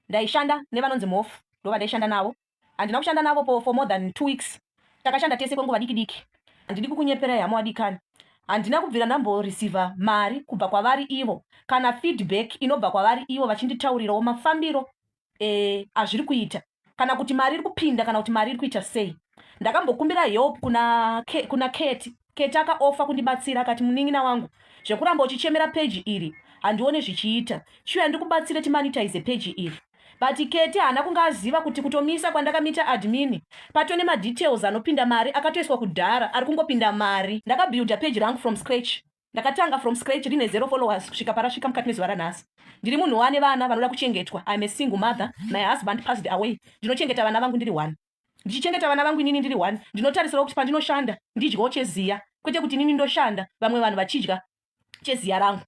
Ndaishanda nevanonzi Mhofu ndovandaishanda navo. Handina kushanda navo po for more than two weeks. Takashanda tese kwenguva diki diki. Handidi kukunyeperai hama wadikani. Handina kubvira ndambo receiver mari kubva kwavari ivo kana feedback inobva kwavari ivo vachinditaurirawo mafambiro eh, azviri kuita kana kuti mari iri kupinda kana kuti mari iri kuita sei. Ndakambokumbira help kuna, kuna Keti Kate akaofa kundibatsira akati munin'ina wangu zvekuramba uchichemera peji iri handione zvichiita chiuya ndikubatsire timanitize peji iri but kete haana kunge aziva kuti kutomisa kwandakamita admin patone madetails anopinda mari akatoiswa kudhara ari kungopinda mari ndakabuilda peji rangu from scratch ndakatanga from scratch rine zero followers kusvika parasvika mukati mezuva ranhasi ndiri munhu wane vana vanoda kuchengetwa im a single mother my husband passed away ndinochengeta vana vangu ndiri one ndichichengeta vana vangu inini ndiri one ndinotarisira kuti pandinoshanda ndidyawo cheziya kwete kuti inini ndoshanda vamwe vanhu vachidya cheziya rangu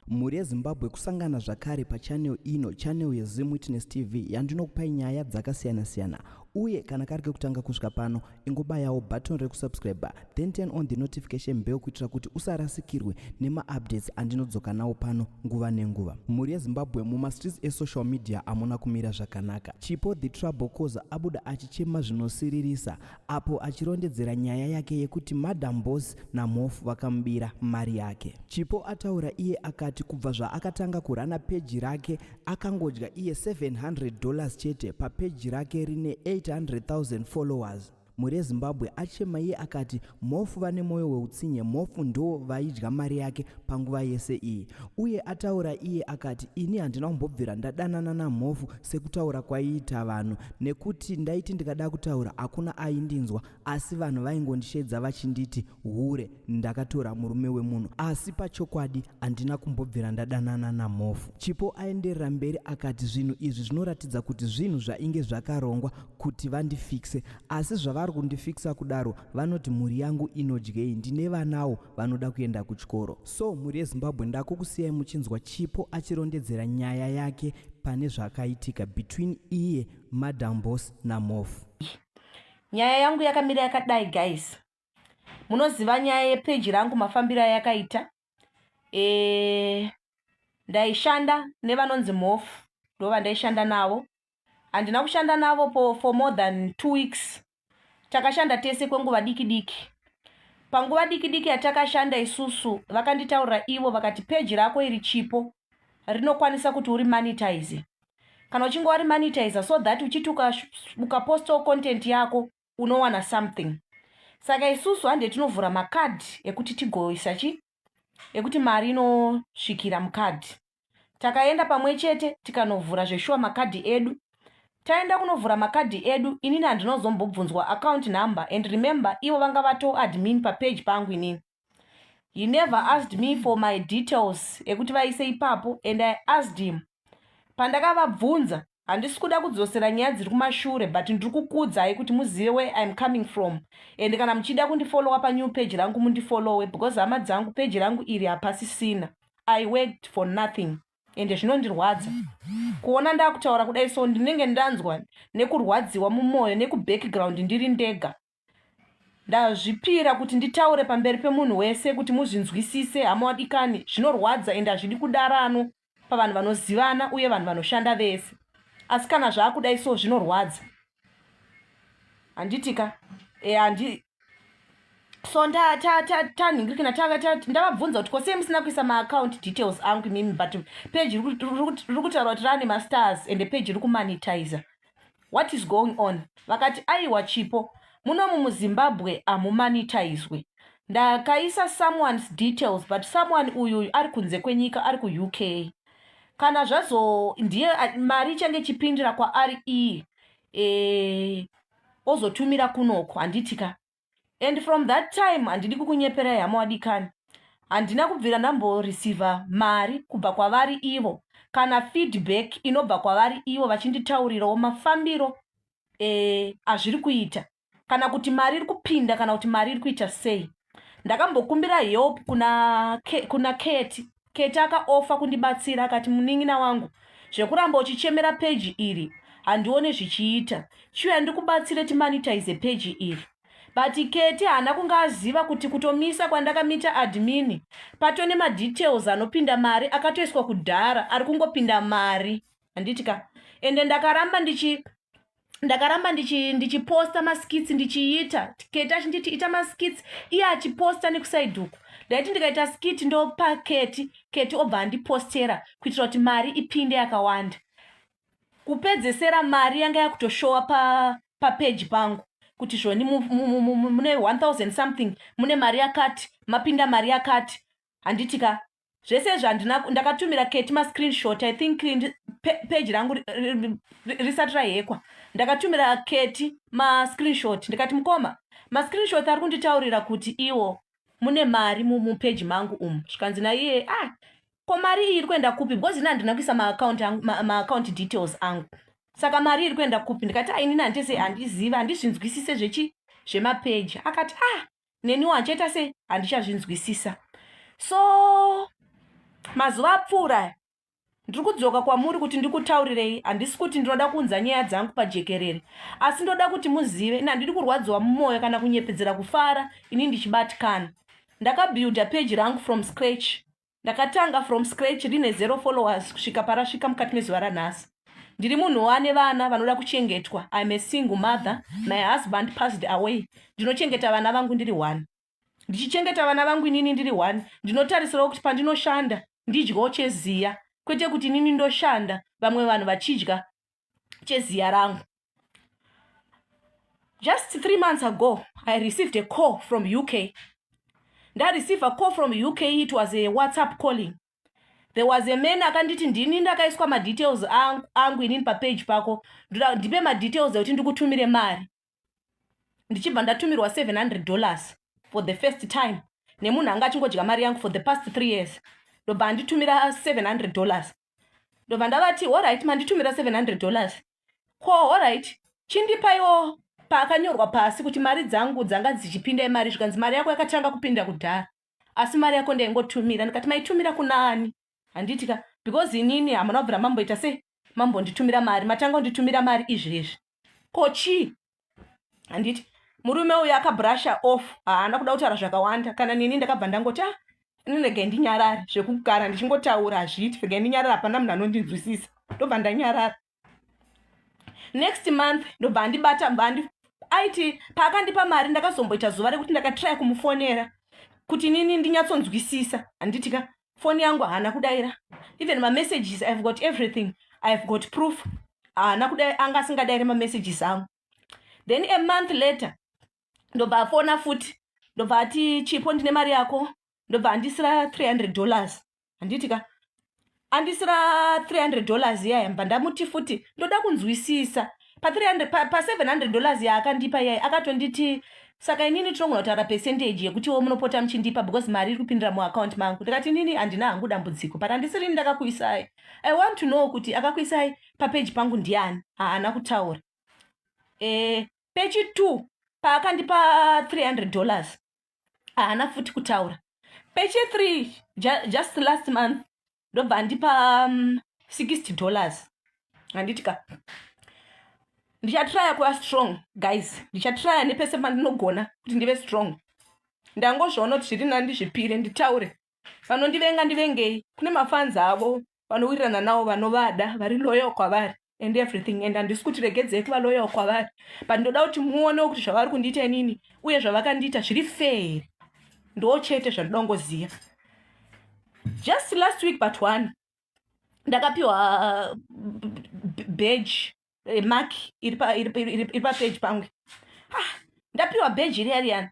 mhuri yezimbabwe kusangana zvakare pachanel ino chanel yezim witness tv yandinokupai nyaya dzakasiyana-siyana uye kana kari kekutanga kusvika pano ingobayawo button rekusubscribe then turn on the notification bell kuitira kuti usarasikirwe nemaupdates andinodzoka nawo pano nguva nenguva mhuri yezimbabwe mumastreets esocial media amuna kumira zvakanaka chipo the trouble cause abuda achichema zvinosiririsa apo achirondedzera nyaya yake yekuti madam boss namhofu vakamubira mari yake chipo ataura iye akati kubva zvaakatanga kurana peji rake akangodya iye 700 dollars chete papeji rake rine 800000 followers Mhuri Zimbabwe achema iye akati Mhofu vane moyo weutsinye Mhofu ndo vaidya mari yake panguva yese iyi uye ataura iye akati ini handina kumbobvira ndadanana naMhofu sekutaura kwaiita vanhu nekuti ndaiti ndikada kutaura hakuna aindinzwa asi vanhu vaingondishedza vachinditi hure ndakatora murume wemunhu asi pachokwadi handina kumbobvira ndadanana namhofu chipo aenderera mberi akati zvinhu izvi zvinoratidza kuti zvinhu zvainge zvakarongwa kuti vandifikse asi zvavari kundifiksa kudaro vanoti mhuri yangu inodyei ndine vanawo vanoda kuenda kuchikoro so mhuri yezimbabwe ndakukusiyai muchinzwa chipo achirondedzera nyaya yake pane zvakaitika between iye madam bos namhofu nyaya yangu yakamira yakadai guys munoziva nyaya yepeji rangu mafambiro ayakaita e, ndaishanda nevanonzi mhofu ndo vandaishanda navo handina kushanda navo po, for more than two weeks takashanda tese kwenguva diki diki panguva diki diki yatakashanda isusu vakanditaurira ivo vakati peji rako iri chipo rinokwanisa kuti uri monetize kana uchinge wari monetize so that uchiti ukapostawo content yako unowana something saka isusu hande tinovhura macard ekuti tigoisa chi ekuti mari inosvikira mucard takaenda pamwe chete tikanovhura zveshuwa makadhi edu taenda kunovhura makadhi edu inini handinozombobvunzwa account number and remember ivo vanga vatoadmin papage pangu inini he never asked me for my details ekuti vaise ipapo and i asked him pandakavabvunza handisi kuda kudzosera nyaya dziri kumashure but ndiri kukuudzai kuti muzive where iam coming from and kana muchida kundifollowa panew page rangu mundifollowe because hama dzangu peji rangu iri hapasisina i worked for nothing and zvinondirwadza kuona ndakutaura kudai so ndinenge ndanzwa nekurwadziwa mumwoyo nekubackground ndiri ndega ndazvipira kuti nditaure pamberi pemunhu wese kuti muzvinzwisise hama wadikani zvinorwadza ende hazvidi kudarano pavanhu vanozivana uye vanhu vanoshanda vese asi kana zvaakudai so zvinorwadza handitika e, handi so tanhingirikina ndavabvunza kuti kosei musina kuisa maacount details angu imimi but page riri kutaura kuti rane mastars ende page riri kumanitizer what is going on vakati aiwa chipo muno mumuzimbabwe hamumanitaizwe ndakaisa someone's details but someone uyu uyu ari kunze kwenyika ari kuuk kana zvazo ndiye mari ichange ichipindira kwaari iyi e, ozotumira kunoko handiti ka and from that time handidi kukunyeperai hama wadikani handina kubvira ndamboreceiva mari kubva kwavari ivo kana feedback inobva kwavari ivo vachinditaurirawo mafambiro eh, azviri e, kuita kana kuti mari iri kupinda kana kuti mari iri kuita sei ndakambokumbira help kuna, kuna keti Kate akaofa kundibatsira akati munin'ina wangu zvekuramba uchichemera peji iri handione zvichiita chiuya ndikubatsire timanitize peji iri but kate haana kunge aziva kuti kutomisa kwandakamita admini pato nemadetails anopinda mari akatoiswa kudhara ari kungopinda mari handiti ka ende ndakaramba ndichi ndakaramba ndichiposta maskits ndichiita keti achinditi ita maskits iye achiposta nekusaiduku ndaiti ndikaita skit ndopa keti keti obva andipostera kuitira kuti mari ipinde yakawanda kupedzesera mari yanga yakutoshowa papeji pa pangu kuti zvoni mune 1000 something mune mari yakati mapinda mari yakati handitika zvese zvandina ndakatumira keti mascreenshot i think page rangu risati rahekwa ndakatumira keti mascreenshot ndikati mukoma mascreenshot ari kunditaurira kuti iwo mune mari mupeji mangu umu zvikanzi naiye ah ko mari iyi iri kuenda kupi because ini handina kuisa maacount details angu saka mari iri kuenda kupi ndikati ainini ah, handese handiziva handizvinzwisise zvechi zvemapeji akati ah neniwo handichaita sei handichazvinzwisisa so mazuva apfuura ndiri kudzoka kwamuri kuti ndikutaurirei handisi kuti ndinoda kuunza nyaya dzangu pajekerere asi ndoda kuti muzive ini handidi kurwadziwa mumwoyo kana kunyepedzera kufara ini ndichibatikana ndakabuilda peji rangu from scratch ndakatanga from scratch rine zero followers kusvika parasvika mukati mezuva ranhasi ndiri munhu wane vana vanoda kuchengetwa im a single mother my husband passed away ndinochengeta vana vangu ndiri one ndichichengeta vana vangu inini ndiri one ndinotarisirawo kuti pandinoshanda ndidyawo cheziya kwete kuti inini ndoshanda vamwe vanhu vachidya cheziya rangu just three months ago i received a call from uk ndareceive a call from uk it was a whatsapp calling there was a man akanditi ndini ndakaiswa madetails angu inini papage pako ndipe madetails ekuti ndikutumire mari ndichibva ndatumirwa 700 dollars for the first time nemunhu anga achingodya mari yangu for the past three years ndobva anditumira 700 dollars ndobva ndavati horit manditumira 700 dollars ko horit chindipaiwo paakanyorwa pasi kuti mari dzangu dzanga dzichipinda imari zvikanzi mari yako yakatanga kupinda kudhara asi mari yako ndaingotumira ndikati maitumira kunaani handiti ka because inini hamuna kubvira mamboita sei mambonditumira mari matanga unditumira mari izvezvi ko chii handiti murume uyu akabrusha off haana kuda kutaura zvakawanda kana nini ndakabva ndangoti a ah, ndinege ndinyarare zvekugara ndichingotaura hazviiti rege ndinyarare hapana munhu anondinzwisisa ndobva ndanyarara next month ndobva andibata bva andi aiti paakandipa mari ndakazomboita zuva rekuti ndakatraya kumufonera kuti nini ndinyatsonzwisisa handitika foni yangu haana kudaira even mamessages ihave got everything ihave got proof haana kuda anga asingadaire mamessages angu then a month later ndobva afona futi ndobva ati chipo ndine mari yako ndobva andisira 300 dollars handiti ka andisira 300 dollars iyaya mba ndamuti futi ndoda kunzwisisa pa 300 pa, pa 700 dollars yaakandipa iyai akatonditi saka inini tinogona kutaura percentage yekutiwo munopota muchindipa because mari iri kupindira muaccount mangu ndikati inini handina hangu dambudziko but handisirini ndakakuisai i want to know kuti akakuisai papeji pangu ndiani haana kutaura e, pechi two paakandipa 300 dollars haana futi kutaura pechi three ju, just last month ndobva andipa um, 60 dollars handiti ka ndichatraya kuva strong guys ndichatraya nepese pandinogona kuti ndive strong ndangozviona kuti zviri nani ndizvipire nditaure vanondivenga ndivengei kune mafanzi avo vanowirirana navo vanovada vari loyo kwavari and everything and handisi kuti regedzei kuva loyal kwavari but ndoda kuti muonewo kuti zvavari kundiita inini uye zvavakandiita zviri fair ndo chete zvandoda kungoziva just last week but one ndakapiwa uh, badge eh, mark iri papage pangu ah, ndapiwa badge iri yariyani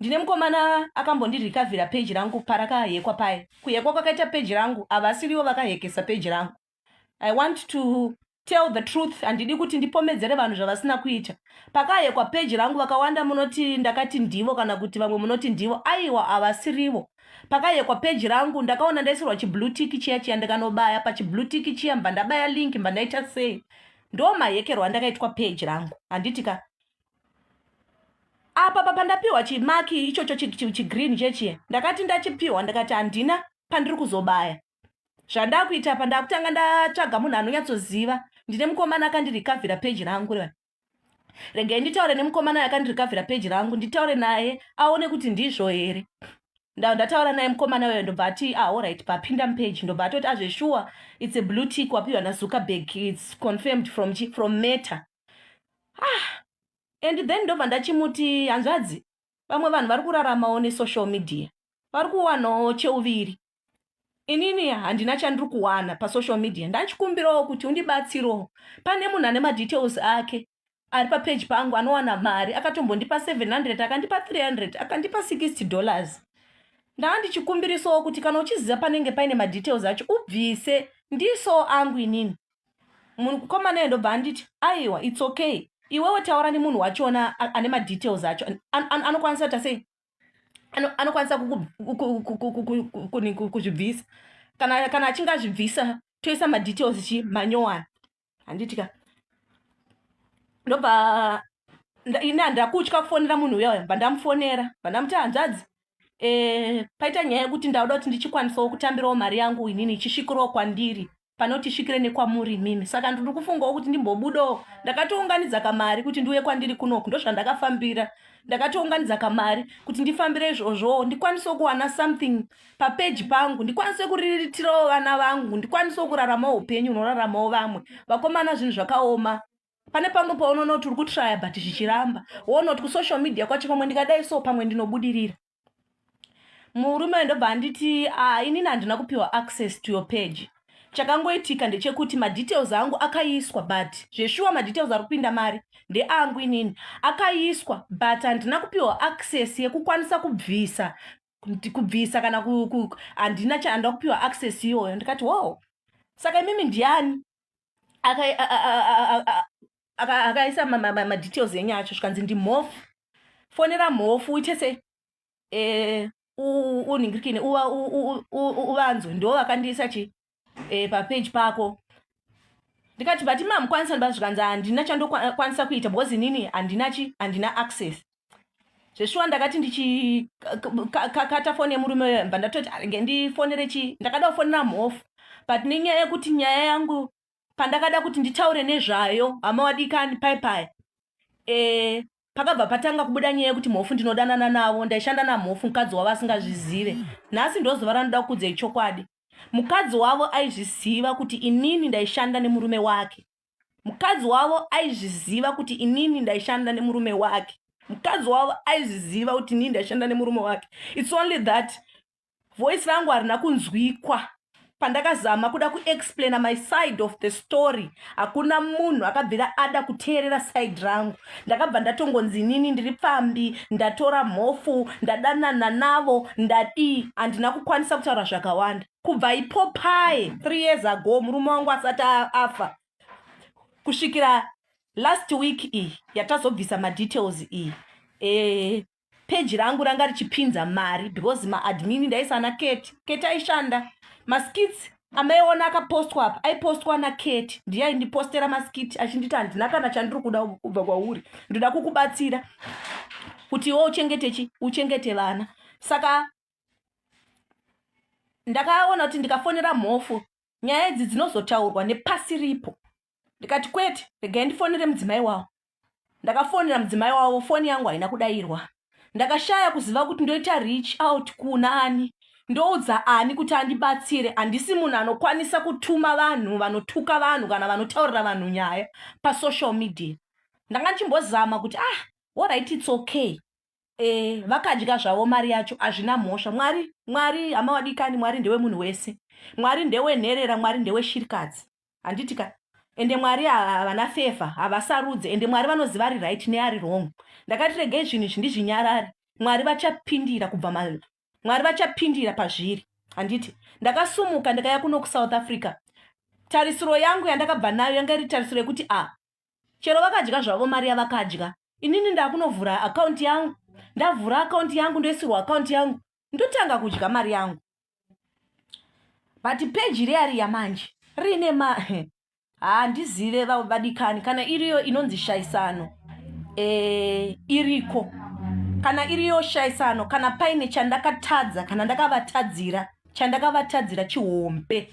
ndine mukomana akambondirikavhira peji rangu parakahekwa paye kuhekwa kwakaita peji rangu havasiriwo vakahekesa peji rangu i want to tell the truth handidi kuti ndipomedzere vanhu zvavasina kuita pakayekwa peji rangu vakawanda munoti ndakati ndivo kana kuti vamwe munoti ndivo aiwa havasirivo pakayekwa peji rangu ndakaona ndaisirwa chiblutiki chiya chiya ndikanobaya pachiblutiki chiya mba ndabaya link mba ndaita sei ndo mahekerwa andakaitwa peji rangu handiti ka apa papandapiwa chimaki ichocho chigreen chechiya ndakati ndachipiwa ndakati handina pandiri kuzobaya zvandakuita apa ndakutanga ndatsvaga munhu anonyatsoziva ndine mukomana akandirikavhira peji rangu revana regai nditaure nemukomana yakandirikavhira peji rangu nditaure naye aone kuti ndizvo here ndava ndataura naye mukomana weyo ndobva ati ahorit ah, papinda mupeji ndobva atoti azveshuwa ah, its a blue tick wapiwa nazuckerberg its confirmed from, from meta ah and then ndobva ndachimuti hanzvadzi vamwe vanhu vari kuraramawo nesocial media vari kuwanawo cheuviri inini handina chandiri kuwana pasocial media ndachikumbirawo kuti undibatsirewo pane munhu ane madetails ake ari papeji pangu anowana mari akatombondipa 700 akandipa 300 akandipa 60 dollars ndaa ndichikumbirisawo kuti kana uchiziva panenge paine madetails acho ubvise ndiisawo angu inini mukomana ye ndobva anditi aiwa its okay iwewe taura nemunhu wachona ane madetails acho anokwanisa tasei anokwanisa kuzvibvisa kana kana achinge azvibvisa toisa madetails chi manyowani handiti ka ndobva ini handida kutya kufonera munhu uya uya bandamufonera bandamuti hanzvadzi e, paita nyaya yekuti ndauda kuti ndichikwanisawo kutambirawo mari yangu inini ichisvikirawo kwandiri panoti svikire nekwamuri imimi saka ndiri kufungawo kuti ndimbobudawo ndakatounganidza kamari kuti ndiuye kwandiri kunoku ndozvandakafambira ndakatounganidza kamari kuti ndifambire izvozvowo ndikwanisewo kuwana something papeji pangu ndikwanise kuriritirawo vana vangu ndikwanisewo kuraramawo upenyu unoraramawo vamwe vakomana zvinhu zvakaoma pane pamwe paunonoti uri kutraya but zvichiramba wonoti kusocial media kwacho pamwe ndikadai so pamwe ndinobudirira murume uyo ndobva anditi ah, inini handina kupiwa access to your page chakangoitika ndechekuti madetails angu akaiswa but zveshuwa madetails ari kupinda mari ndeangu inini akaiswa but handina kupiwa access yekukwanisa kubvisa kubvisa kana handina chaanda kupiwa access iyoyo ndikati wow saka imimi ndiani akaisa aka ma, ma, ma, details enyu acho zvikanzi ndimhofu fonera mhofu uite se eh, unhingirikine uvanzwe ndo vakandiisa chi eh, papage pako ndikati but mamukwanisa ndoba zvikanzi handina chandokwanisa kuita because inini handina chi handina access zveshuwa ndakati ndichikata foni yemurume uyo mba ndatoti aringe ndifonere chii ndakada kufonera mhofu but nenyaya yekuti nyaya yangu pandakada kuti nditaure nezvayo hama wadikani pai pai e, pakabva patanga kubuda nyaya yekuti mhofu ndinodanana navo ndaishanda namhofu mukadzi wavo asingazvizive nhasi ndozuva ranoda kukudzei chokwadi mukadzi wavo aizviziva kuti inini ndaishanda nemurume wake mukadzi wavo aizviziva kuti inini ndaishanda nemurume wake mukadzi wavo aizviziva kuti inini ndaishanda nemurume wake its only that voice rangu harina kunzwikwa pandakazama kuda kuexplaina my side of the story hakuna munhu akabvira ada kuteerera side rangu ndakabva ndatongonzi nini ndiri pfambi ndatora mhofu ndadanana navo ndadii handina kukwanisa kutaura zvakawanda kubva ipo paye three years ago murume wangu asati afa kusvikira last week iyi yatazobvisa madetails iyi ee eh, Page rangu ranga richipinza mari because maadmin ndaisa ana Kate. Kate aishanda maskits amaiona akapostwa apa aipostwa nakate ndiye aindipostera maskiti achinditi handina kana chandiri kuda kubva kwauri ndoda kukubatsira kuti iwo uchengete chi uchengete vana saka ndakaona kuti ndikafonera mhofu nyaya idzi dzinozotaurwa nepasi ripo ndikati kwete regai ndifonere mudzimai wawo ndakafonera mudzimai wavo foni yangu haina kudairwa ndakashaya kuziva kuti ndoita reach out kuna ani ndoudza ani kuti andibatsire handisi munhu anokwanisa kutuma vanhu vanotuka vanhu kana vanotaurira vanhu nyaya pasocial media ndanga ndichimbozama kuti ah orit its okay e, vakadya zvavo mari yacho hazvina mhosva mwari mwari hama wadikani mwari ndewemunhu wese mwari ndewenherera mwari ndeweshirikadzi handiti ka ende mwari havana fefa havasarudze ende mwari vanoziva ari right neari wrong ndakati regei zvinhu izvi ndizvinyarari mwari vachapindira kubva mwari vachapindira pazviri handiti ndakasumuka ndakaya kuno kusouth africa tarisiro yangu yandakabva nayo yanga iri tarisiro yekuti a ah, chero vakadya zvavo mari yavakadya inini ndakunovhura akaunti yangu ndavhura akaunti yangu ndoisirwa akaunti yangu ndotanga kudya mari yangu but peji reari yamanje riine ma handizive ah, vadikani kana iriyo inonzi shaisano e, iriko kana iriyo shaisano kana paine chandakatadza kana ndakavatadzira chandakavatadzira chihombe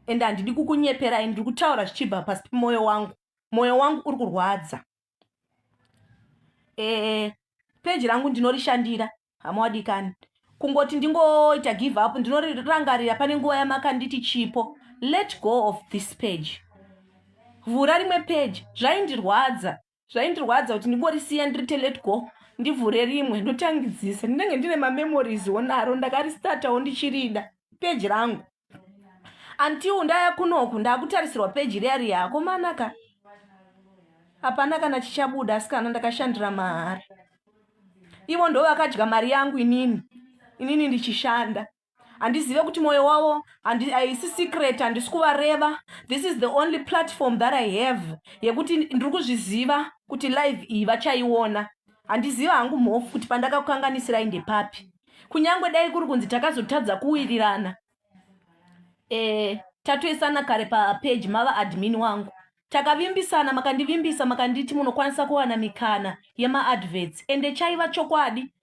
and handidi kukunyeperai ndiri kutaura zvichibva pasi pemwoyo wangu mwoyo wangu uri kurwadza e, peji rangu ndinorishandira hama wadikani kungoti ndingoita give up ndinorangarira pane nguva yamakanditi chipo let go of this page vhura rimwe page zvaindirwadza zvaindirwadza kuti ndingorisiya ndirite let go ndivhure rimwe ndotangidzisa ndinenge ndine mamemories onaro ndakaristatawo ndichirida peji rangu until ndaya kunoku ndakutarisirwa peji riya riya akomanaka hapana kana chichabuda asikana ndakashandira mahara ivo ndo vakadya mari yangu inini inini ndichishanda handizive kuti mwoyo wavo haisi secret handisi kuvareva this is the only platform that i have yekuti ndiri kuzviziva kuti live iyi vachaiona handiziva hangu mhofu kuti pandakakukanganisirai ndepapi kunyange dai kuri kunzi takazotadza kuwirirana e, tatoisana kare papeji mava admin wangu takavimbisana makandivimbisa makanditi munokwanisa kuwana mikana yemaadverts ende chaiva chokwadi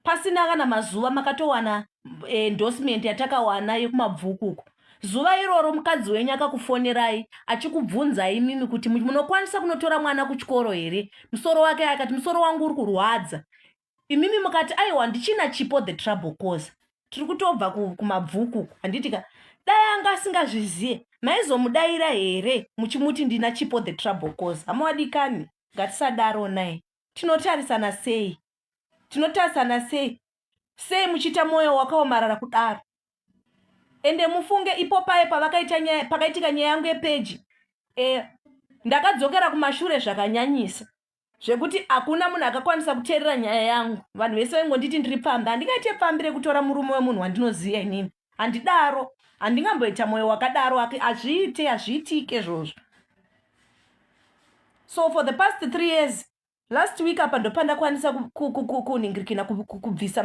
pasina kana mazuva makatowana eh, endorsement yatakawana yekumabvukuku zuva iroro mukadzi wenyu akakufonerai achikubvunzai imimi kuti munokwanisa kunotora mwana kuchikoro here musoro wake akati musoro wangu uri kurwadza imimi mukati aiwa ndichina chipo the trouble cause tiri kutobva kumabvuku handiti ka dai anga asingazvizive maizomudaira here muchimuti ndina chipo the trouble cause hamuwadikani ngatisadaro naye tinotarisana sei tinotarisana sei sei muchiita mwoyo wakaomarara kudaro ende mufunge ipo paye pakaitika nyaya yangu yepeji e, ndakadzokera kumashure zvakanyanyisa zvekuti hakuna munhu akakwanisa kuteerera nyaya yangu vanhu vese vaingonditi ndiri pfambi handingaite pfambi rekutora murume wemunhu wandinoziva inini handidaro handingamboita mwoyo wakadaro ake hazviite hazviitike izvozvo so for the past three years last week apa ndopandakwanisa kuningirikina kubvisa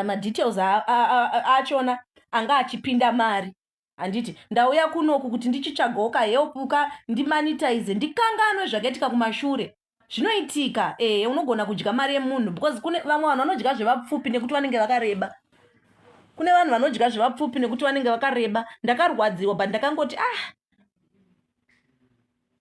madetails achona anga achipinda mari handiti ndauya kunoku kuti ndichitsvagawo kahelpuka ndimanitize ndikanganwe zvakaitika kumashure zvinoitika ehe unogona kudya mari yemunhu because kune vamwe vanhu vanodya zvevapfupi nekuti vanenge vakareba kune vanhu vanodya zvevapfupi nekuti vanenge vakareba ndakarwadziwa but ndakangoti ah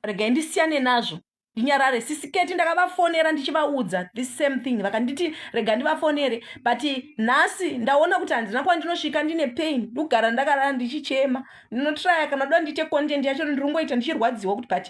regai ndisiyane nazvo ndinyarare sisiketi ndakavafonera ndichivaudza this same thing vakanditi rega ndivafonere but nhasi ndaona kuti handina kuva ndinosvika ndine pain ndikugara ndakarara ndichichema ndinotraya kana doda ndiite content yacho ndirongoita ndichirwadziwa kuti but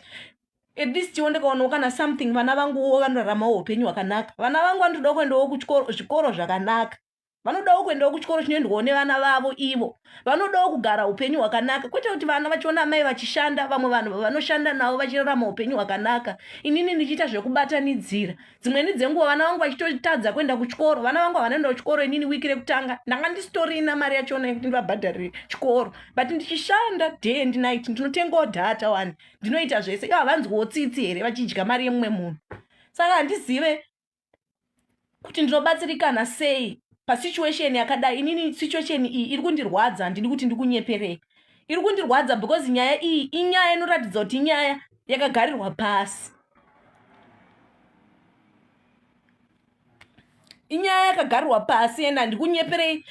at least tiwo ndikaonawo kana something vana vanguwo vanoraramawo upenyu hwakanaka vana vangu vanotodawo kuendawo kuzvikoro zvakanaka vanodawo kuendawo kuchikoro chinoendwawo nevana vavo ivo vanodawo kugara upenyu hwakanaka kwete kuti vana vachiona amai vachishanda vamwe vanhu vavanoshanda navo vachirarama upenyu hwakanaka inini ndichiita zvekubatanidzira dzimweni dzenguva vana vangu vachitotadza kuenda kuchikoro vana vangu havanoenda kuchikoro inini wiki rekutanga ndanga ndisitorina mari yachiona yekuti ndivabhadharire chikoro but ndichishanda day and night ndinotengawo dhata wani ndinoita zvese ivo havanzwiwo tsitsi here vachidya mari yemumwe munhu saka handizive kuti ndinobatsirikana sei pasituation yakadai inini situation iyi iri kundirwadza handidi kuti ndikunyeperei iri kundirwadza because nyaya iyi inyaya inoratidza kuti inyaya yakagarirwa pasi inyaya yakagarirwa pasi ende handikunyeperei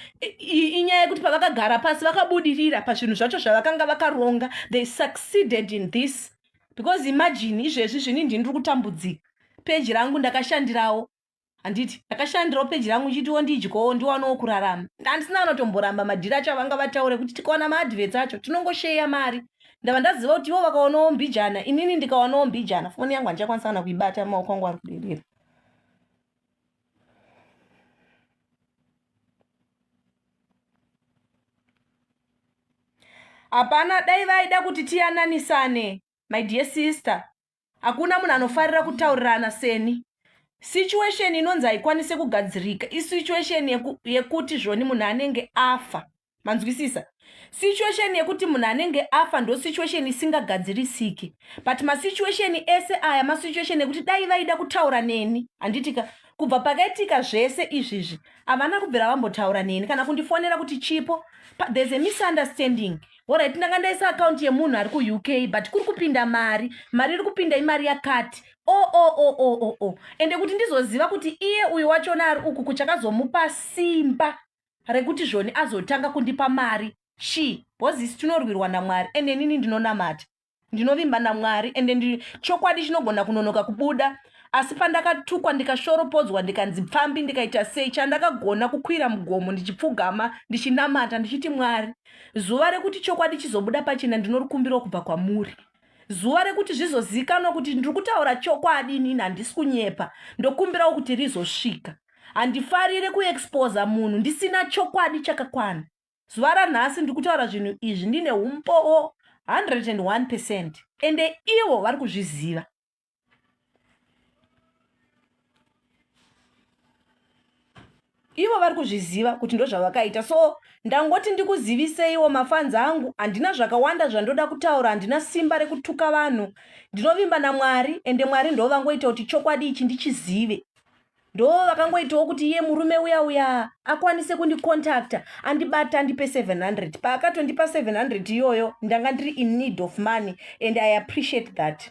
inyaya yekuti pavakagara pasi vakabudirira pazvinhu zvacho zvavakanga vakaronga they succeeded in this because imagine izvezvi zvini ndini ndiri kutambudzika peji rangu ndakashandirawo handiti ndakashandirawo peji rangu chitiwo ndidyowo ndiwanawo kurarama handisina anotomboramba madhiri acho avanga vataure kuti tikawana maadvets acho tinongosheya mari ndava ndaziva kuti ivo vakawanawo mbijana inini ndikawanawo mbijana foni yangu handichakwanisa kana kuibata maoko angu ari kuderera hapana dai vaida kuti tiyananisane my dear sister hakuna munhu anofarira kutaurirana seni situation inonzi haikwanise kugadzirika isituation yeku, yekuti zvoni munhu anenge afa manzwisisa situation yekuti munhu anenge afa ndo situation isingagadzirisiki but masituation ese aya masituation ekuti dai vaida kutaura neni handitika kubva pakaitika zvese izvizvi havana kubvira vambotaura neni kana kundifonera kuti chipo there's a misunderstanding orit ndanga ndaisa akaunti yemunhu ari kuuk but kuri kupinda mari mari iri kupinda imari yakati oo oh, oo oh, oo oh, oo ende kuti ndizoziva kuti iye uyu wachona ari uku kuchakazomupa simba rekuti zvoni azotanga kundipa mari she bhozi isi tinorwirwa namwari ende inini ndinonamata ndinovimba namwari ende ndi chokwadi chinogona kunonoka kubuda asi pandakatukwa ndikashoropodzwa ndikanzi pfambi ndikaita sei chandakagona kukwira mugomo ndichipfugama ndichinamata ndichiti mwari zuva rekuti chokwadi chizobuda pachena ndinorikumbiro kubva kwamuri zuva rekuti zvizozivikanwa kuti ndiri kutaura chokwadi inini handisi kunyepa ndokumbirawo kuti rizosvika handifarire kuexposa munhu ndisina chokwadi chakakwana zuva ranhasi ndiri kutaura zvinhu izvi ndine umbowo 101 percent ende ivo vari kuzviziva ivo vari kuzviziva kuti ndozvavakaita so ndangoti ndikuziviseiwo mafanzi angu handina zvakawanda zvandoda kutaura handina simba rekutuka vanhu ndinovimba namwari ende mwari ndovangoita kuti chokwadi ichi ndichizive ndo vakangoitawo kuti iye murume uya uya akwanise kundicontacta andibata andipe 700 paakatondipa 700 iyoyo ndanga ndiri in need of money and i appreciate that